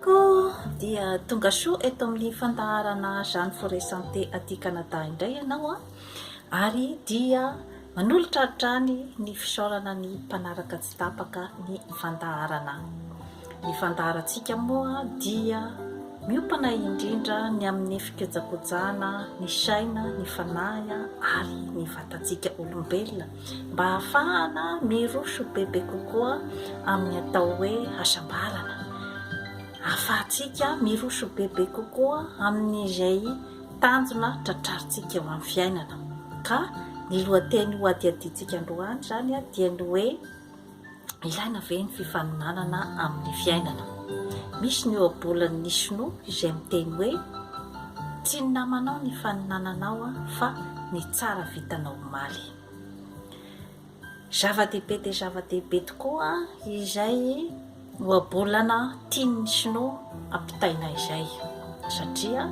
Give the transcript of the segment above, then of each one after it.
Koa dia tonga soa eto amin'ny fandaharana Jeanne Forêt Santé aty Canada indray ianao an! Ary dia manolotra hatrany ny fisaorana ny mpanaraka tsy tapaka ny fandaharana. Ny fandaharantsika moa dia miompana indrindra ny amin'ny fikojakojana ny saina, ny fanahy ary ny vatantsika olombelona. mba hahafahana miroso bebe kokoa amin'ny atao hoe hasambarana, hahafahantsika miroso bebe kokoa amin'izay tanjona tratrarintsika eo amin'ny fiainana. Ka ny lohateny hohadihadiantsika androany izany dia ny hoe. Ilaina ve ny fifaninanana amin'ny fiainana? Misy ny ohabolan'ny Shinoa izay miteny hoe, Tsy ny namanao ny ifaninananao fa ny tsara vitanao omaly. Zava-dehibe dia zava-dehibe tokoa izay ohabolana tian'ny Shinoa ampitaina izay satria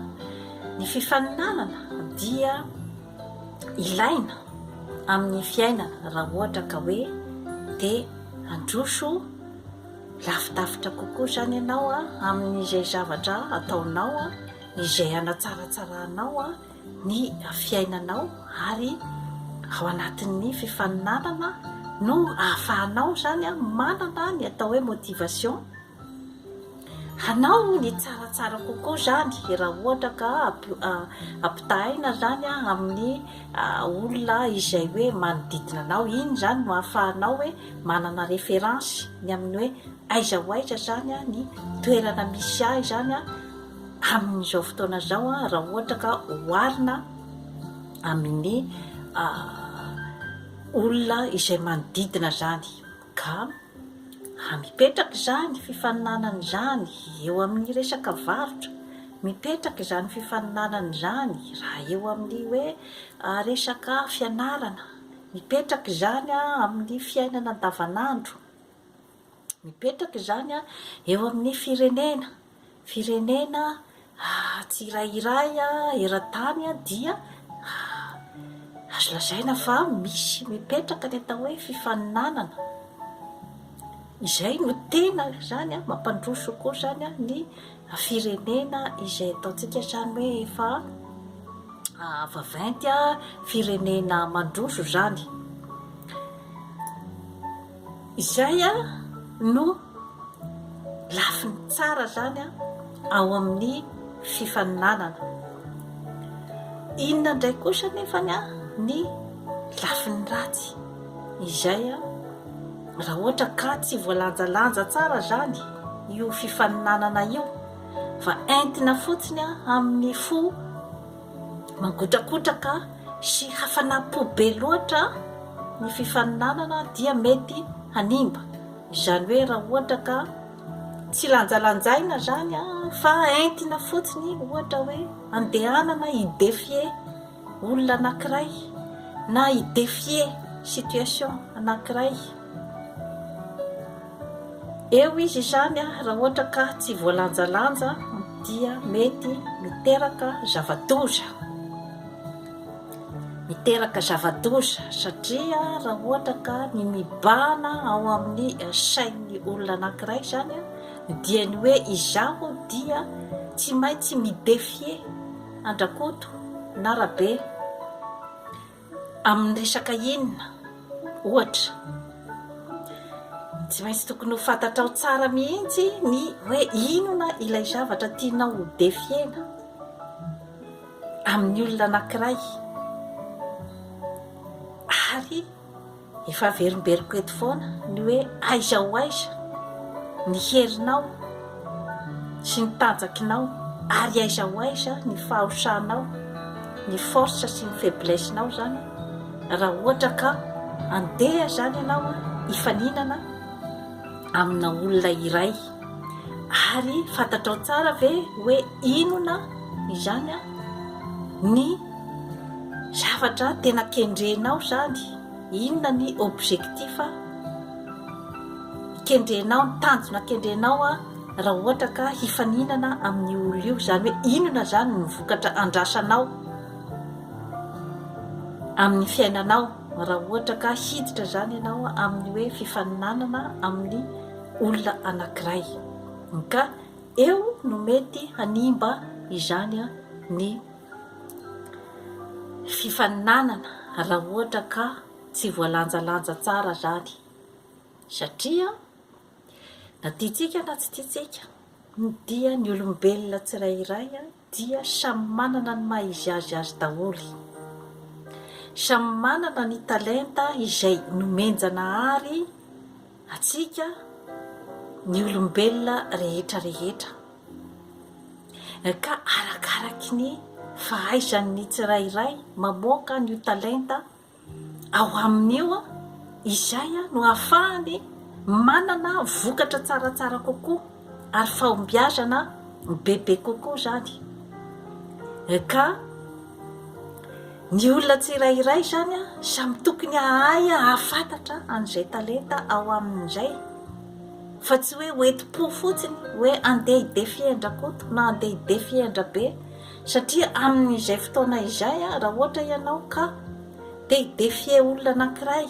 ny fifaninanana dia ilaina amin'ny fiainana raha ohatra ka hoe te handroso lavidavitra kokoa izany ianao amin'izay zavatra ataonao, izay hanatsaratsarahanao ny fiainanao ary ao anatin'ny fifaninanana no ahafahanao izany manana ny atao hoe motivation. Hanao ny tsaratsara kokoa izany raha ohatra ka ampitahaina izany amin'ny olona izay hoe manodidina anao. Iny izany no ahafahanao hoe manana référence ny amin'ny hoe aiza ho aiza izany ny toerana misy ahy izany amin'izao fotoana izao raha ohatra ka oharina amin'ny olona izay manodidina izany. Ka raha mipetraka izany fifaninanana izany eo amin'ny resaka varotra, mipetraka izany fifaninanana izany raha eo amin'ny hoe resaka fianarana, mipetraka izany amin'ny fiainana andavanandro, mipetraka izany eo amin'ny firenena, Firenena tsirairay eran-tany dia azo lazaina fa misy mipetraka ny atao hoe fifaninanana, izay no tena izany mampandroso koa izany ny firenena izay ataontsika izany hoe efa vaventy, firenena mandroso izany. Izay no lafiny tsara izany ao amin'ny fifaninanana. Inona indray kosa nefa ny lafiny ratsy? Izay raha ohatra ka tsy voalanjalanja tsara izany io fifaninanana io fa entina fotsiny amin'ny fo, mangotrakotraka sy hafanam-po be loatra ny fifaninanana dia mety hanimba, izany hoe raha ohatra ka tsy lanjalanjaina izany fa entina fotsiny ohatra hoe andehanana hi defier olona anankiray na hi defier situation anankiray. Eo izy izany raha ohatra ka tsy voalanjalanja dia mety miteraka zava-doza. Miteraka zava-doza satria raha ohatra ka ny mibahana ao amin'ny sain'ny olona anankiray izany dia ny hoe izaho dia tsy maintsy mi-défier Andrakoto na Rabe. Amin'ny resaka inona, ohatra? Tsy maintsy tokony ho fantatrao tsara mihitsy ny hoe inona ilay zavatra tianao ho defiena amin'ny olona anankiray ary Efa averimberiko eto foana ny hoe aiza ho aiza ny herinao sy ny tanjakinao ary aiza ho aiza ny fahaosanao, ny force sy ny faiblesse nao zany raha ohatra ka andeha zany ianao hifaninana amina olona iray. Ary fantatrao tsara ve hoe inona izany ny zavatra tena kendrenao izany? Inona ny objectif kendrenao, ny tanjona kendrenao raha ohatra ka hifaninana amin'io olona io? Izany hoe inona izany ny vokatra andrasanao amin'ny fiainanao raha ohatra ka hiditra izany ianao amin'ny hoe fifaninanana amin'ny olona anankiray, ka eo no mety hanimba izany ny fifaninanana raha ohatra ka tsy voalanjalanja tsara izany, satria na tiantsika na tsy tiantsika dia ny olombelona tsirairay dia samy manana ny maha izy azy azy daholo, samy manana ny talenta izay nomen-Janahary antsika ny olombelona rehetra rehetra, ka arakaraky ny fahaizan'ny tsirairay mamoaka an'io talenta Ao aminy eo izay no ahafahany manana vokatra tsaratsara kokoa ary fahombiazana bebe kokoa izany. Ka ny olona tsirairay izany samy tokony hahay hahafantatra an'izay talenta ao aminy izay fa tsy hoe hoenti-po fotsiny hoe andeha hidefiendra koto na andeha hidefiendra be. Satria amin'izay fotoana izay, raha ohatra ianao ka te hi-defier olona anankiray,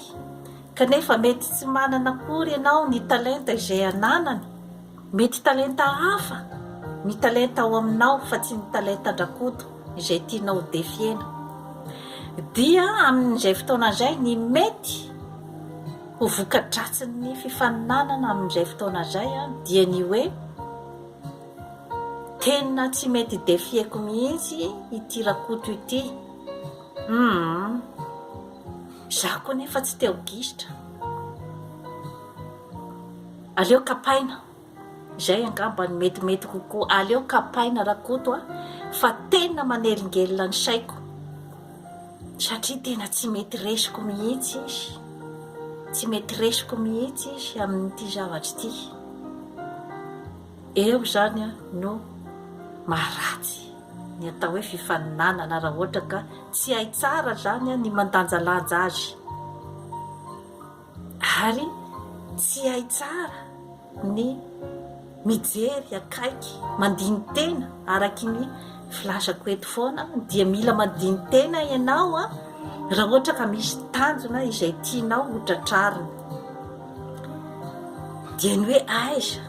kanefa mety tsy manana akory ianao ny talenta izay ananany, mety talenta hafa ny talenta ao aminao fa tsy ny talentan-dRakoto izay tianao ho defier-na, dia amin'izay fotoana izay ny mety ho voka-dratsin'ny fifaninanana amin'izay fotoana izay dia ny hoe, Tena tsy mety defieko mihitsy ity Rakoto ity. Humm. Izaho koa nefa tsy te ho gisitra. Aleo kapaina. Izay angamba no metimety kokoa. Aleo kapaina Rakoto a! Fa tena manelingelina ny saiko satria tena tsy mety resiko mihitsy izy. Tsy mety resiko mihitsy izy amin'ity zavatra ity. Eo izany no maha ratsy ny atao hoe fifaninanana raha ohatra ka tsy hay tsara izany ny mandanjalanja azy ary tsy hay tsara ny mijery akaiky mandini-tena araky ny filazako eto foana dia mila mandini-tena ianao raha ohatra ka misy tanjona izay tianao ho tratrarina. dia ny hoe aiza,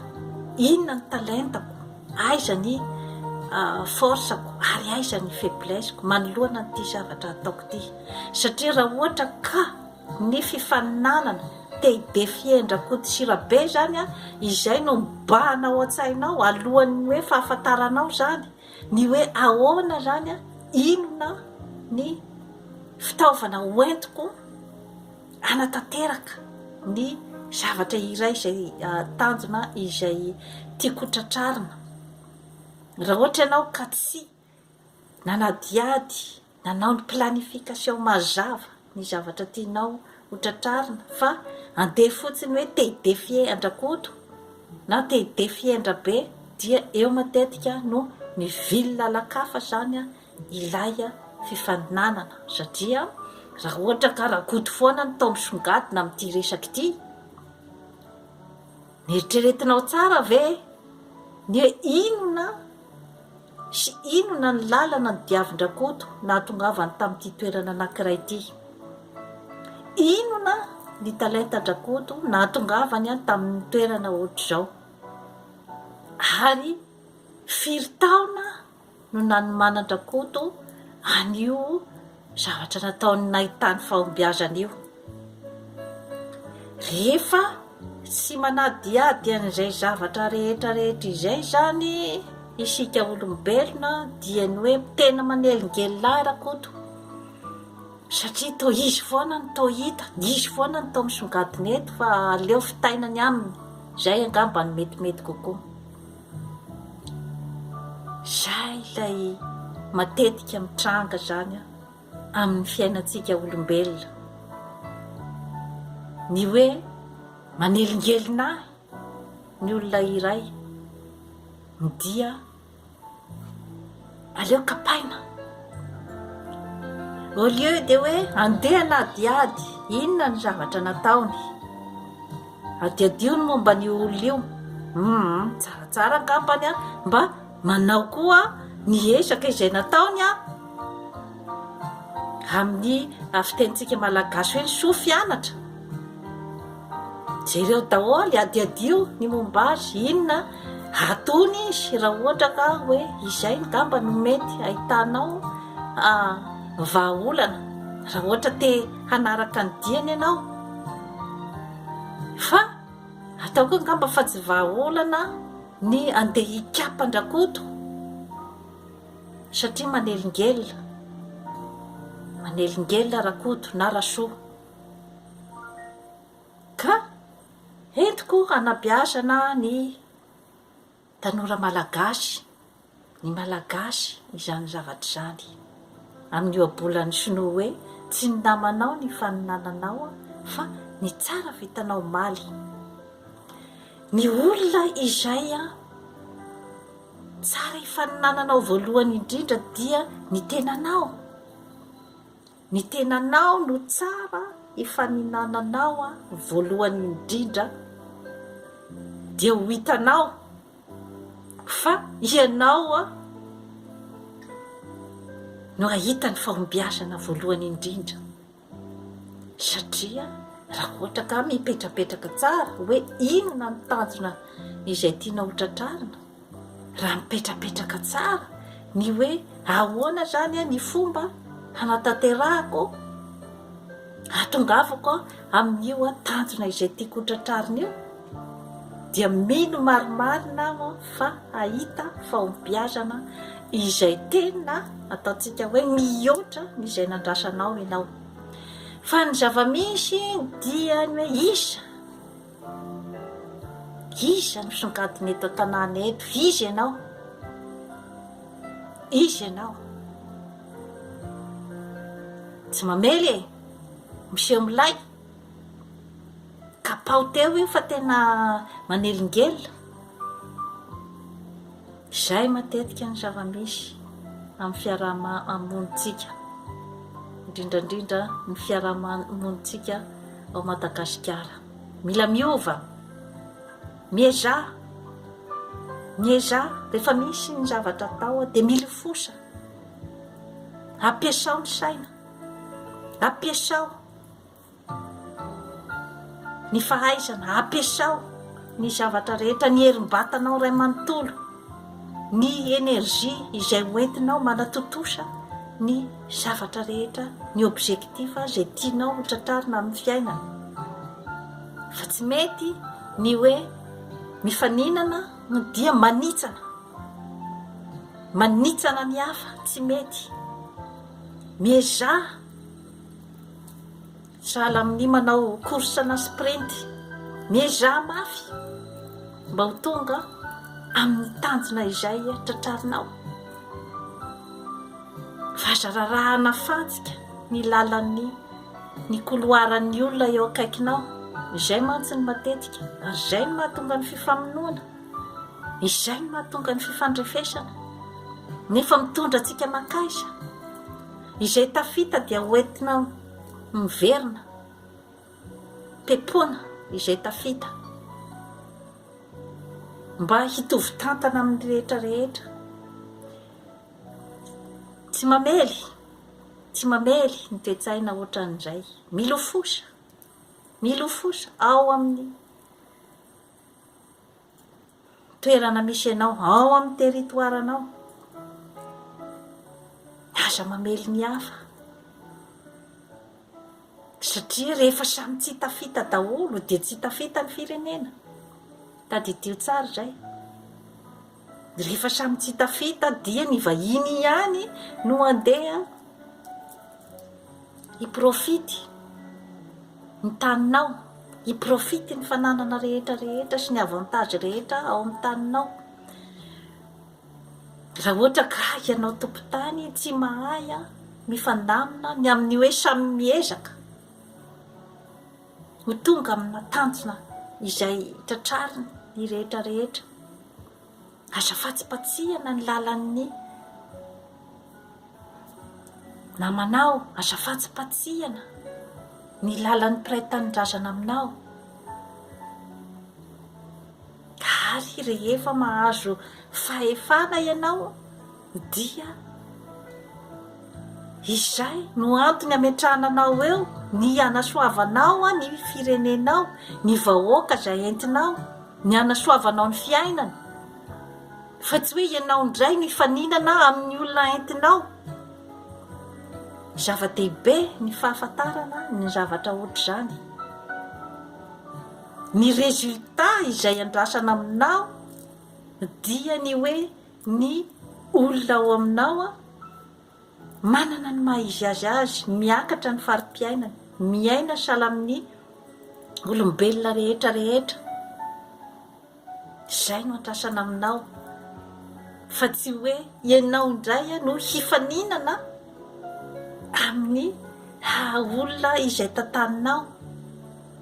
inona ny talentako, aiza ny force-ko ary aiza ny faiblesse-ko manoloana an'ity zavatra ataoko ity, satria raha ohatra ka ny fifaninanana te hi-defier-ndry Rakoto sy Rabe izany, izay no mibahana ao an-tsainao alohan'ny hoe fahafantaranao izany ny hoe ahoana izany, inona ny fitaovana hoentiko, hanatanteraka ny zavatra iray izay tanjona izay tiako ho tratrarina. Raha ohatra ianao ka tsy nanadihady nanao ny planification mazava ny zavatra tianao ho tratrarina fa andeha fotsiny hoe te hidefier an-dRakoto na te hidefier an-dRabe dia eo matetika no mivily lalan-kafa izany ilay fifaninanana satria raha ohatra ka rakoto foana ny tao misongadina amin'ity resaka ity neritreretinao tsara ve ny hoe inona sy inona ny lalana ny diavin-drakoto nahatongavany tamin'ity toerana anankiray ity inona ny talentan-drakoto nahatongavany an tamin'ny toerana ohatr'izao ary firy taona no nanomanan-dRakoto an'io zavatra nataony nahitany fahombiazana io. Rehefa tsy manadihady an'izay zavatra rehetra rehetra izay izany isika olombelona dia ny hoe tena manelingelina ahy Rakoto satria toa izy foana no toa hita, izy foana no toa misongadina eto fa aleo fitaina ny aminy, izay angamba no metimety kokoa. Izay ilay matetika mitranga izany amin'ny fiainantsika olombelona. Ny hoe manelingelina ahy ny olona iray dia aleo kapaina au lieu dia hoe andeha hanadihady inona ny zavatra nataony adihadiho ny momba ny olona io hum tsaratsara angambany a mba manao koa ny ezaka izay nataony a amin'ny fitenintsika malagasy hoe ny soa fianatra Jereo daholo, adiadio ny momba azy, inona atony izy raha ohatra ka hoe izay ngamba no mety ahitanao vahaolana raha ohatra te hanaraka ny diany ianao fa ataoko hoe ngamba fa tsy vahaolana ny andeha hikapa an-dRakoto satria manelingelina manelingelina Rakoto na Rasoa. Ka entiko hanabeazana ny tanora malagasy, ny malagasy izany zavatra izany, amin'ny ohabolan'ny sinoa hoe tsy ny namanao ny faninananao fa ny tsara vitanao omaly. Ny olona izay tsara ifaninananao voalohany indrindra dia ny tenanao. Ny tenanao no tsara efa ninananao a voalohany indrindra dia ho hitanao fa ianao a no hahita ny fahombiazana voalohany indrindra satria raha ohatra ka mipetrapetraka tsara hoe inona ny tanjona izay tianao ho tratrarina Raha mipetrapetraka tsara ny hoe ahoana izany ny fomba hanatanterahako, hahatongavako amin'io tanjona izay tiako ho tratrarina io, dia mino marimarina aho fa hahita fahombiazana izay tena ataontsika hoe mihoatra ny izay nandrasanao ianao. Fa ny zava-misy dia ny hoe iza? Iza no songadina eto an-tanàna eto? Iza ianao? Iza ianao? Tsy mamely e! Miseho milay! Kapaho teo io fa tena manelingelina. Izay matetika ny zava-misy amin'ny fiaraha-monintsika, indrindra indrindra ny fiaraha-monintsika ao Madagasikara. Mila miova, miezaha, miezaha, rehefa misy ny zavatra atao dia milofosa, ampiasao ny saina, ampiasao. Ny fahaizana, ampiasao ny zavatra rehetra, ny herim-batanao iray manontolo, ny énergie izay ho entinao manatontosa ny zavatra rehetra, ny objectif izay tianao ho tratrarina amin'ny fiainana. Fa tsy mety ny hoe mifaninana no dia manitsana. Manitsana ny hafa, tsy mety. Miezaha Misahala amin'ny manao course na sprint. Miezaha mafy mba ho tonga amin'ny tanjona izay tratrarinao. Fa aza rarahana fantsika ny lalan'ny ny koloaran'ny olona eo akaikinao. Izay mantsy ny matetika, ary izay no mahatonga ny fifamonoana, izay no mahatonga ny fifandrefesana, nefa mitondra antsika mankaiza? Izay tafita dia hoentina miverina, pepona izay tafita, mba hitovy tantana amin'ny rehetra rehetra. Tsy mamely, tsy mamely ny toe-tsaina ohatran'izay. Milofosa, milofosa ao amin'ny. toerana misy anao, ao amin'ny territoire-nao. Aza mamely ny hafa, satria rehefa samy tsy tafita daholo dia tsy tafita ny firenena. Tadidio tsara izay. Rehefa samy tsy tafita dia ny vahiny ihany no andeha Hiprofity ny taninao, hiprofity ny fananana rehetra rehetra sy ny avantage rehetra ao amin'ny taninao. Raha ohatra ka ianao tompon-tany tsy mahay mifandamina ny amin'ny hoe samy miezaka ho tonga amina tanjona izay tratrariny ny rehetra rehetra. Aza fatsipatsihana ny lalan'ny namanao, aza fatsipatsihana ny lalan'ny mpiray tanindrazana aminao. Ary rehefa mahazo fahefana ianao, Dia izay no antony hametrahana anao eo, ny hanasoavanao ny firenenao, ny vahoaka izay entinao, ny hanasoavanao ny fiainany, fa tsy hoe ianao indray no hifaninana amin'ny olona entinao. Zava-dehibe ny fahafantarana ny zavatra ohatr'izany. Ny résultat izay andrasana aminao dia ny hoe ny olona ao aminao an, manana ny maha izy azy azy, miakatra ny fari-piainany, miaina sahala amin'ny olombelona rehetra rehetra, izay no andrasana aminao fa tsy hoe ianao indray an no hifaninana amin'ny haha olona izay tantaninao.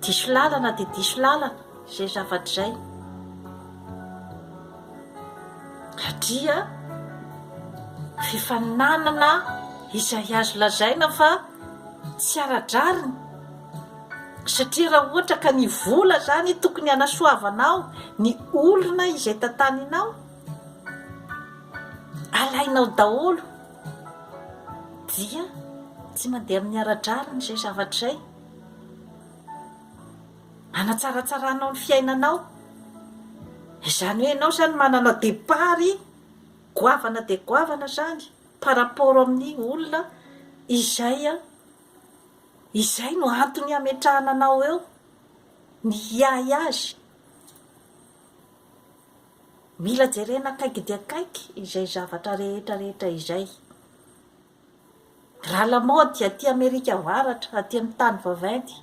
Diso lalana dia diso lalana izay zavatra izay. Satria rehefa nanana izay azo lazaina fa tsy ara-drariny, satria raha ohatra ka ny vola izany tokony hanasoavanao ny olona izay tantaninao, alainao daholo, dia tsy mandeha amin'ny ara-drariny izay zavatra izay. Hanatsaratsarànao ny fiainanao. Izany hoe ianao izany manana départ goavana dia goavana izany par rapport amin'ny olona izay, izay no antony hametrahana anao eo, ny hiahy azy. Mila jerena akaiky dia akaiky izay zavatra rehetra rehetra izay. Raha lamaody aty Amerika Avaratra, aty amin'ny tany vaventy,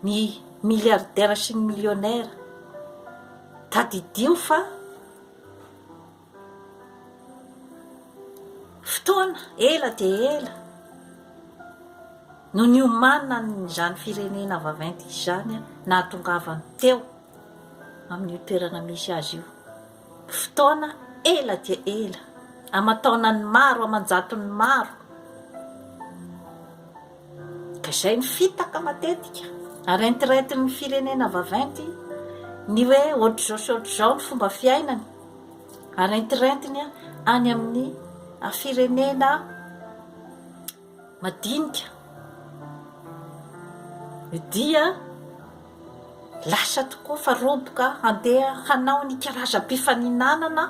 ny milliardaires sy ny millionnaires, tadidio fa fotoana ela dia ela no niomanan'izany firenena vaventy izany nahatongavany teo amin'io toerana misy azy io. Fotoana ela dia ela, aman-taonany maro aman-jatony maro, ka izay ny fitaka matetika, ary entirentin'ny firenena vaventy ny hoe ohatr'izao sy ohatr'izao ny fomba fiainany, ary entirentiny any amin'ny firenena. madinika dia lasa tokoa fa roboka handeha hanao ny karazam-pifaninanana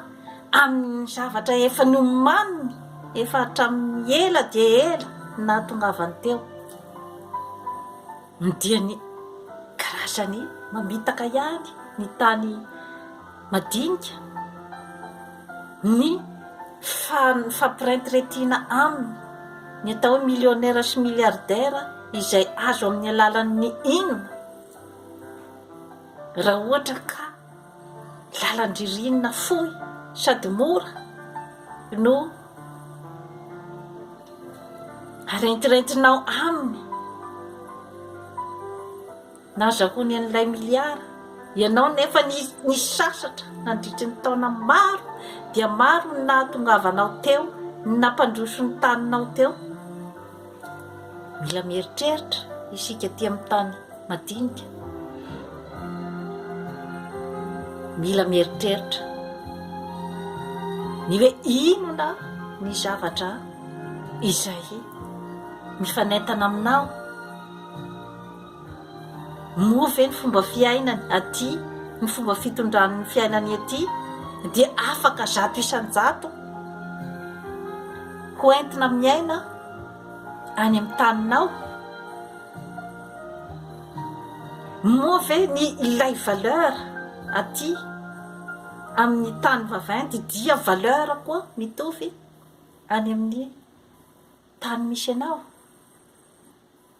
amin'ny zavatra efa nomaniny efa hatramin'ny ela dia ela nahatongavany teo. Ny diany karazany mamitaka ihany ny tany madinika, ny fifampirentiretiana aminy, ny atao hoe millionnaire sy milliardaire izay azo amin'ny alalan'ny inona raha ohatra ka. Lalan-dririnina fohy sady mora no arentirentinao aminy. Nazahoany an'ilay miliara ianao nefa nisasatra nandritry ny taona maro dia maro ny nahatongavanao teo, ny nampandroso ny taninao teo. Mila mieritreritra isika aty amin'ny tany madinika. Mila mieritreritra ny hoe inona ny zavatra izay mifanentana aminao. Moa ve ny fomba fiainany aty, ny fomba fitondrany ny fiainany aty dia afaka zato isan-jato ho entina miaina any amin'ny taninao? Moa ve ny ilay valeur aty amin'ny tany vaventy dia valeur koa mitovy any amin'ny tany misy anao?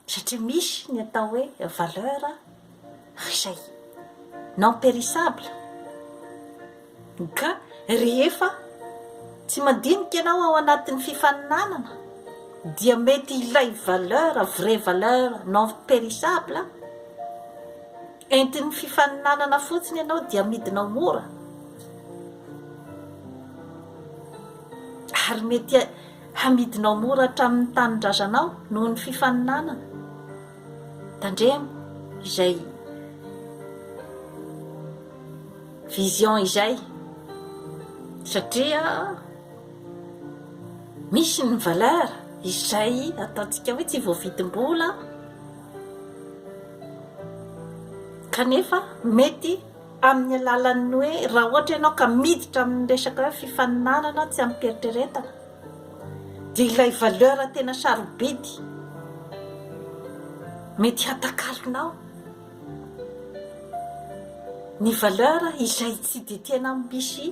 satria misy ny atao hoe valeur izay non perissable ka rehefa tsy mandinika ianao ao anatin'ny fifaninanana dia mety ilay valeur vraie valeur non perissable entin'ny fifaninanana fotsiny ianao dia amidinao mora ary mety Hamidinao mora hatramin'ny tanindrazanao noho ny fifaninanana. Tandremo izay vision izay satria misy ny valeur izay ataontsika hoe tsy voavidim-bola kanefa mety amin'ny alalan'ny hoe raha ohatra ianao ka miditra amin'ny resaka hoe fifaninanana tsy amim-pieritreretana dia ilay valeur tena sarobidy mety hatakalonao ny valeur izay tsy dia tena misy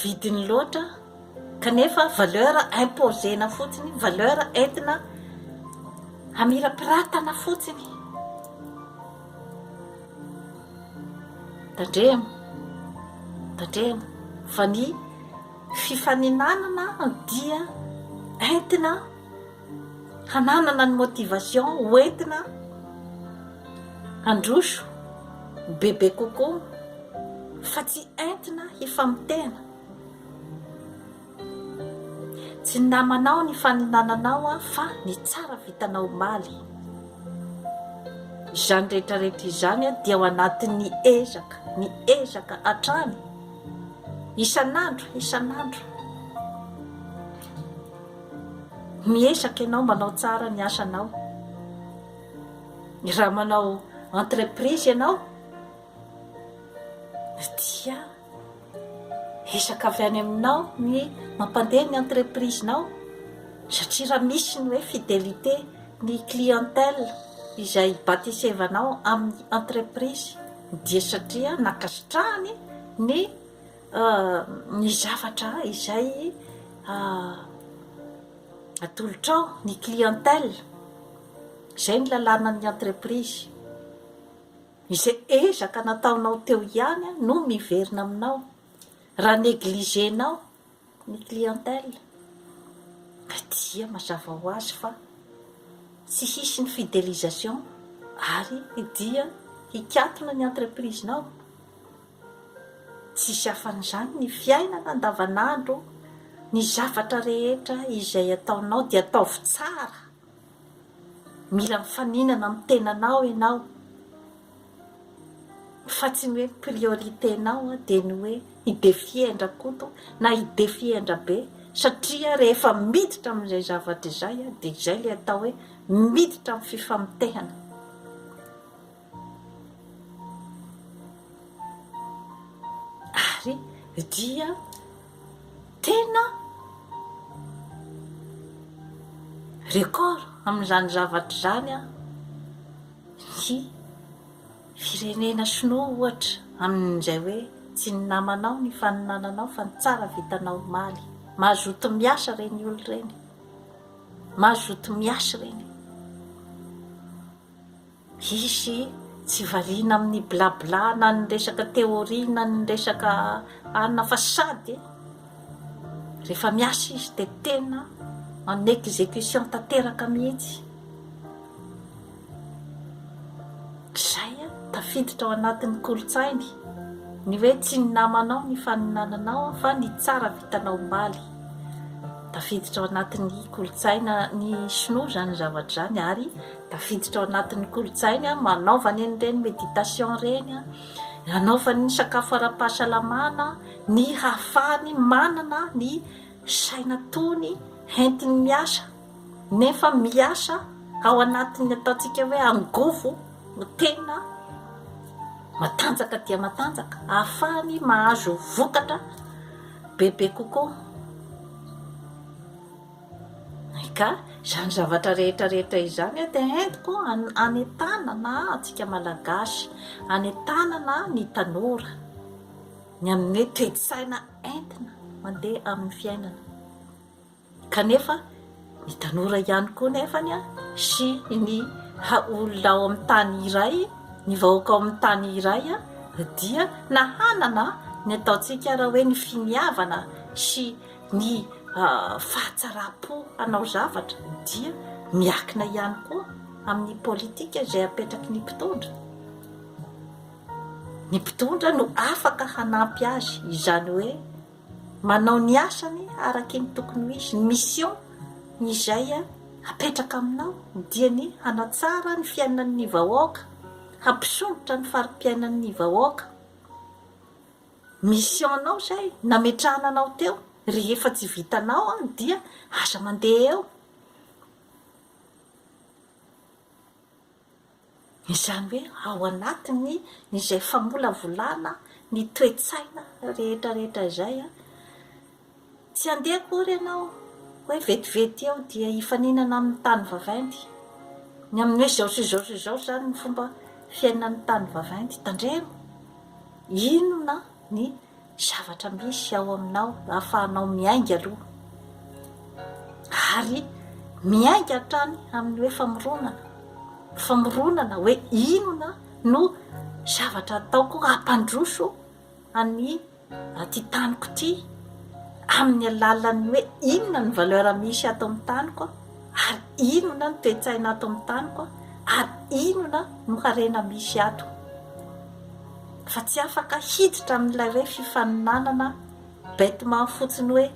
vidiny loatra Kanefa valeur imposena fotsiny, valeur entina hamirapiratana fotsiny. Tandremo, tandremo fa ny fifaninanana dia entina hananana ny motivation ho entina handroso bebe kokoa fa tsy entina hifamoteana. Tsy ny namanao ny fanolananao aho fa ny tsara vitanao omaly. Izany rehetra rehetra izany dia ao anatin'ny ezaka, ny ezaka hatrany, isan'andro, isan'andro. Miezaka ianao manao tsara ny asanao. Raha manao entreprise ianao dia. Ezaka avy any aminao ny mampandeha ny entreprise-nao satria raha misy ny hoe fidelite ny clientèle izay batisevanao amin'ny entreprise dia satria nankasitrahany ny ny zavatra izay atolotrao, ny clientèle. Izay ny lalànan'ny entreprise. Izay ezaka nataonao teo ihany no miverina aminao raha negligenao ny clientèle ka dia mazava ho azy fa tsy hisy ny fidelisation ary dia hikatona ny entreprise-nao. Tsisy afan'izany ny fiainana andavanandro ny zavatra rehetra izay ataonao dia ataovy tsara. Mila mifaninana amin'ny tenanao ianao fa tsy ny hoe priorité-nao dia ny hoe i Defiendra-Koto na i Defiendra-Be satria rehefa miditra amin'izay zavatra izay dia izay ilay atao hoe miditra amin'ny fifamontehana. Ary dia tena record amin'izany zavatra izany ny firenena sinoa ohatra amin'izay hoe tsy ny namanao ny faninananao fa ny tsara vitanao omaly. Mazoto miasa ireny olo ireny, mazoto miasa ireny. Hisy tsy variana amin'ny bla bla na ny resaka théorie na ny resaka anona fa sady rehefa miasa izy dia tena en exécution tanteraka mihitsy. Izay a! Tafiditra ao anatin'ny kolontsainy ny hoe tsy ny namanao ny faninananao fa ny tsara vitanao omaly. Tafiditra ao anatin'ny kolontsaina ny sinoa izany zavatra izany ary Tafiditra ao anatin'ny kolontsainy an, manaovany an'ireny méditation ireny an, anaovany ny sakafo ara-pahasalamana, ny hahafahany manana ny saina tony hentiny miasa, nefa miasa ao anatin'ny ataontsika hoe angovo no tena matanjaka dia matanjaka, ahafahany mahazo vokatra bebe kokoa. Ka izany zavatra rehetra rehetra izany dia entiko hanentanana antsika Malagasy, hanentanana ny tanora ny amin'ny hoe toe-tsaina entina mandeha amin'ny fiainana. Kanefa ny tanora ihany koa nefa sy ny olona ao amin'ny tany iray, ny vahoaka ao amin'ny tany iray dia na hanana ny ataontsika raha hoe ny finiavana sy Ny fahatsaram-po hanao zavatra dia miakina ihany koa amin'ny politika izay apetraky ny mpitondra. Ny mpitondra no afaka hanampy azy, izany hoe manao ny asany araky ny tokony ho izy, ny mission izay apetraka aminao dia ny hanatsara ny fiainan'ny vahoaka, hampisondrotra ny fari-piainan'ny vahoaka. Mission-nao izay nametrahana anao teo, rehefa tsy vitanao an dia aza mandeha eo. Izany hoe ao anatin'ny izay famolavolana ny toe-tsaina rehetra rehetra izay an, Tsy handeha akory ianao, hoe vetivety eo dia hifaninana amin'ny tany vaventy. Ny amin'ny hoe izao sy izao sy izao izany ny fomba fiainan'ny tany vaventy. Tandremo! Inona ny zavatra misy ao aminao ahafahanao miainga aloha, ary miainga hatrany amin'ny hoe famoronana. Famoronana hoe inona no zavatra ataoko hampandroso an'i. Aty taniko ity amin'ny alalan'ny hoe inona ny valeur misy ato amin'ny taniko ary inona ny toe-tsaina ato amin'ny taniko ary inona no harena misy ato fa tsy afaka hiditra amin'ilay hoe fifaninanana bêtement fotsiny hoe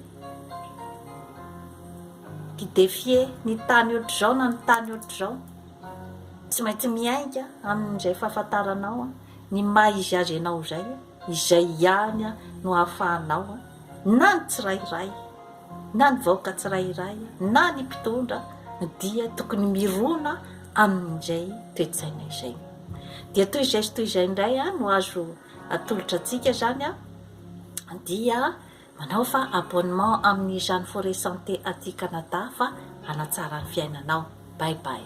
i défier ny tany ohatr'izao na ny tany ohatr'izao tsy maintsy miainga amin'izay fahafantaranao ny maha izy azy ianao izay Izay ihany no ahafahanao na ny tsirairay na ny vahoaka tsirairay na ny mpitondra dia tokony mirona amin'izay toe-tsaina izay. Dia toy izay sy toy izay indray no azo atolotra antsika izany dia manaova abonnement amin'izany Forêt Santé aty Canada fa hanatsara ny fiainanao. Bye bye.